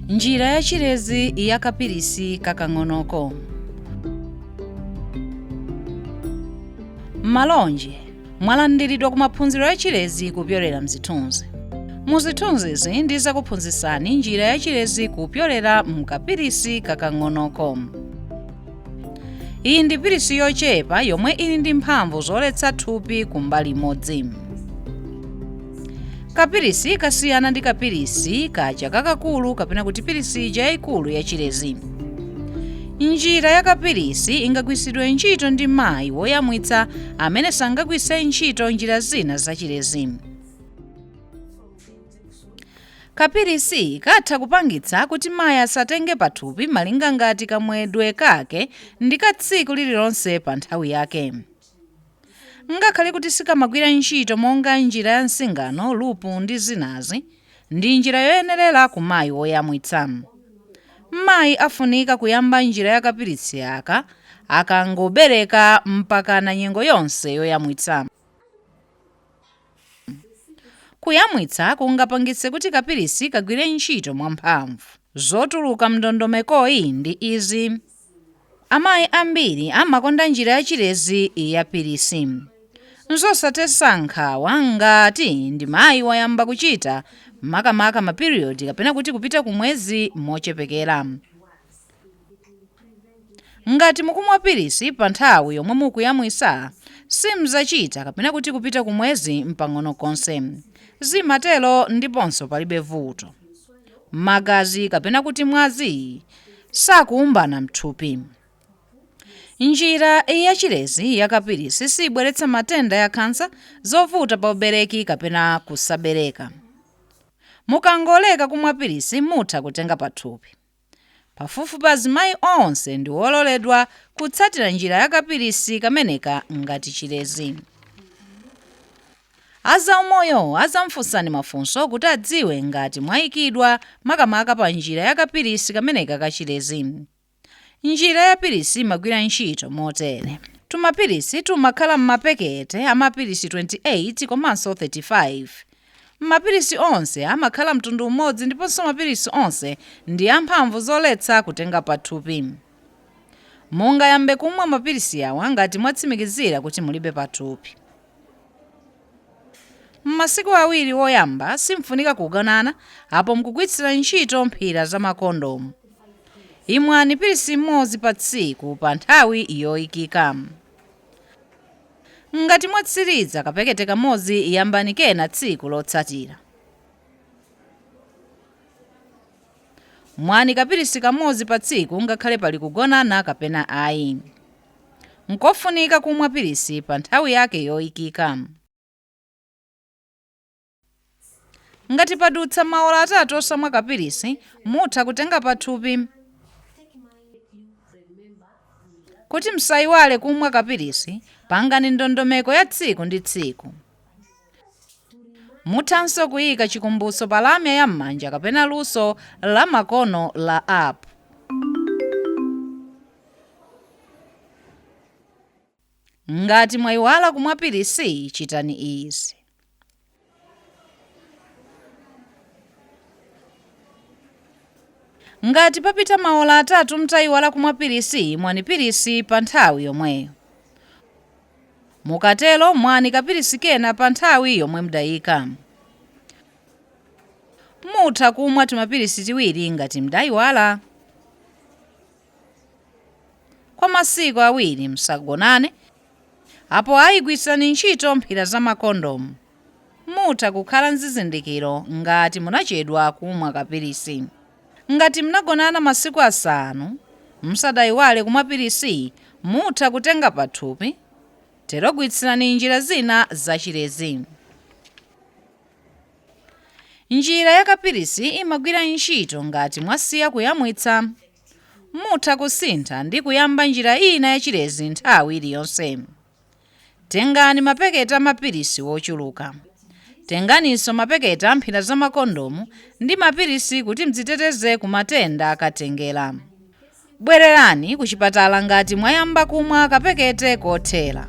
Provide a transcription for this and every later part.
njira ya chilezi ya kapilisi kakang'onoko malonje mwalandiridwa ku maphunziro ya chilezi kupyolera mzithunzi mu zithunzizi ndizakuphunzitsani njira ya chilezi kupyolera mkapilisi kakang'onoko iyi ndi pilisi yochepa yomwe ili ndi mphamvu zoletsa thupi kumbali imodzi kapilisi kasiyana ndi kapilisi kaja kakakulu kapena kuti pilisi ija yayikulu yachilezi njira ya kapilisi ingagwiritsidwe ntchito ndi mayi woyamwitsa amene sangagwiritse ntchito njira zina zachilezi Kapilisi katha kupangitsa kuti mayi asatenge pathupi malinga ngati kamwedwe kake ndi ka tsiku lililonse pa nthawi yake. Ngakhale kuti sikamagwira ntchito monga njira ya nsingano, lupu ndi zinazi, ndi njira yoyenerera ku mayi woyamwitsa. Mayi afunika kuyamba njira ya kapilisi aka akangobereka mpakana nyengo yonse yoyamwitsa. Kuyamwitsa kungapangitse kuti kapilisi kagwire ntchito mwamphamvu. Zotuluka m'ndondomekoyi ndi izi, Amayi ambiri amakonda njira ya chilezi ya pilisi. N'zosadetsa nkhawa ngati ndi mayi wayamba kuchita makamaka mapiriyodi kapena kuti kupita kumwezi mochepekera. Ngati mukumwa pilisi pa nthawi yomwe mukuyamwisa, simzachita kapena kuti kupita ku mwezi mpang'ono konse. Zimatero ndiponso palibe vuto. Magazi kapena kuti mwazi sakuumbana mthupi. Njira ya chilezi ya kapilisi sibweretsa matenda ya khansa, zovuta pa ubereki kapena kusabereka. Mukangoleka kumwa pilisi mutha kutenga pathupi. Pafupifupi azimayi onse ndi ololedwa kutsatira njira ya kapilisi kameneka ngati chilezi. A zaumoyo azamufunsani mafunso kuti adziwe ngati mwaikidwa makamaka pa njira ya kapilisi kameneka ka chilezi. Njira ya pilisi imagwira ntchito motere. Tumapilisi tumakhala m'mapekete a mapilisi 28 komanso 35. Mapilisi onse amakhala mtundu umodzi ndiponso mapilisi onse ndi amphamvu zoletsa kutenga pathupi. Mungayambe kumwa mapilisi awa ngati mwatsimikizira kuti mulibe pathupi. M'masiku awiri oyamba simfunika kugonana apo mukugwitsira ntchito mphira za makondomu. Imwani pilisi imodzi pa tsiku pa nthawi yoikika. Ngati mwatsiriza kapekete kamodzi yambani kena tsiku lotsatira. Mwani kapilisi kamodzi pa tsiku ngakhale pali kugonana kapena ayi. Nkofunika kumwa pilisi pa nthawi yake yoikika. Ngati padutsa maola atatu osamwa kapilisi, mutha kutenga pathupi. Kuti msaiwale kumwa kapilisi, pangani ndondomeko ya tsiku ndi tsiku. Muthanso kuika chikumbutso pa lamya ya m'manja kapena luso la makono la app. Ngati mwaiwala kumwa pilisi, chitani izi. Ngati papita maola atatu mtaiwala kumwa pilisi, mwani pilisi pa nthawi yomweyo. Mukatero mwani kapilisi kena pa nthawi yomwe mdaika. Mutha kumwa timapilisi tiwiri ngati mdaiwala. kwa masiku awiri musagonane, apo ayi gwiritsirani ntchito mphira za makondomu. Mutha kukhala nzizindikiro ngati munachedwa kumwa kapilisi. Ngati mnagonana masiku asanu musadaiwale kumwa pilisi mutha kutenga pathupi, tero gwiritsirani njira zina za chilezi. Njira ya kapilisi imagwira ntchito ngati mwasiya kuyamwitsa. Mutha kusintha ndi kuyamba njira ina ya chilezi nthawi iliyonse. Tengani mapekete a mapilisi wochuluka. Tenganinso mapekete a mphira za makondomu ndi mapilisi kuti mdziteteze ku matenda akatengera. Bwererani kuchipatala ngati mwayamba kumwa kapekete kothera.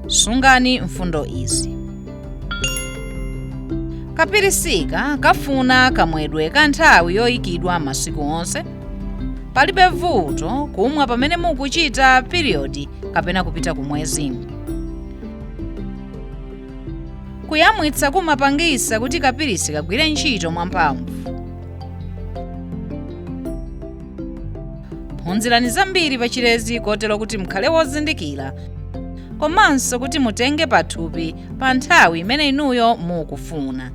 Sungani mfundo izi. Kapirisika kafuna kamwedwe ka nthawi yoyikidwa masiku onse. Palibe vuto kumwa pamene mukuchita piriyodi kapena kupita kumwezi. kuyamwitsa kumapangisa kuti kapilisi kagwire ntchito mwamphamvu phunzirani zambiri pa chilezi kotero kuti mukhale wozindikira komanso kuti mutenge pathupi pa nthawi imene inuyo mukufuna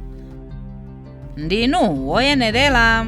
ndinu woyenerera